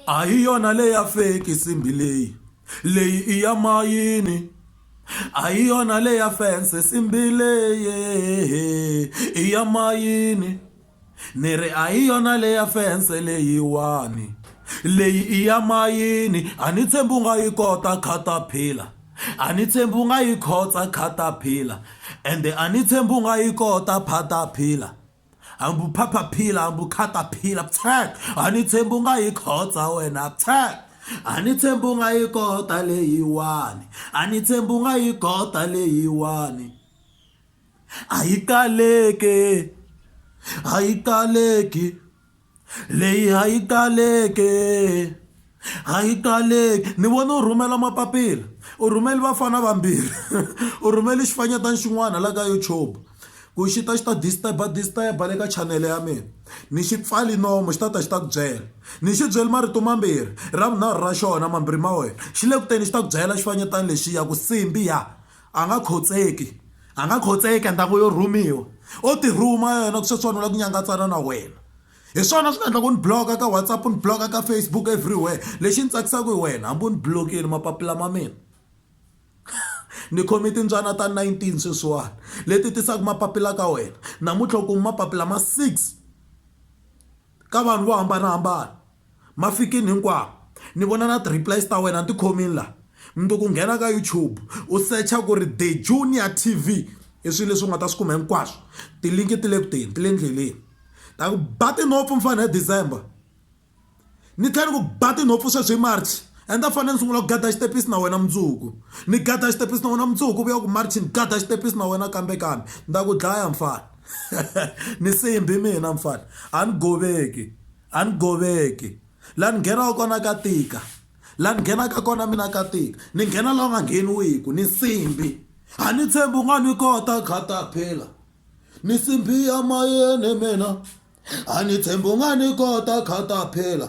A hi yona leyi ya fake nsimbhi leyi leyi i ya mayini a hi yona leyi ya fense nsimbhi leyi i ya mayini ni ri a hi yona leyi ya fense leyiwani leyi i ya mayini a ni tshembi u nga yi kota caterpillar a ni tshembi u nga yi khotsa caterpillar ende a ni tshembi u nga yi kota phatapila. hambi u phaphaphila hambi u khataphila phyee a ni tshembi u nga yi khotsa wena phyee a ni tshembi u nga yi kota leyiwani a ni tshembi u nga yi kota leyiwani a yi kaleki a yi kaleki. Leyi a yi taleke, a yi taleke. Ni vone u rhumela mapapila, u rhumele vafana vambirhi, u rhumele xifanyetana xin'wana la ka YouTube ku xi ta xi ta disturb-a disturb-a le ka chanele ya mina. Ni xi pfale nomu xi ta ta xi ta ku byela. Ni xi byele marito mambirhi, ra vunharhu ra xona mambirhi ma wena xi le ku teni xi ta ku byela xifanyetana lexiya ku Simbi ya! A nga khotseki, a nga khotseki and a ngo yo rhumiwa. O ti rhuma yena ku sweswiwani u lava ku nyangatsana na wena. Hi swona swi nga endlaka u ni block-a ka WhatsApp, u ni block-a ka Facebook everywhere. Lexi ni tsakisaka hi wena hambi u ni block-ini mapapila ma mina ni khome timbyana ta nineteen sweswiwani leti tisaka mapapila ka wena. Namuntlha u kume mapapila ma six. ka vanhu vo hambanahambana mafikini hinkwawo ni vona na ti replies ta wena ni ti khomini la mundzuku nghena ka YouTube u secha ku ri The Junior TV i swilo leswi u nga ta swi kuma hinkwaswo tilinki ti le ku teni ti le ndleleni ta ku ba tinhompfu mfana hi December ni tlhela ni ku ba tinhompfu sweswi hi March and a fanele ni sungula ku gada xitepisi na wena mundzuku ni gada xitepisi na wena mundzuku vuya ku March ni gada xitepisi na wena kambe kambe ni ta ku dlaya mfana. ni simbi mina mfana a ni goveki a ni goveki la ni nghenaka kona ka tika la ni nghenaka kona mina ka tika ni nghena la nga ngheniwiku ni simbi a ni tshembi u nga ni kota khata phela ni simbi ya mayeni mina a ni tshembi u nga ni kota khata phela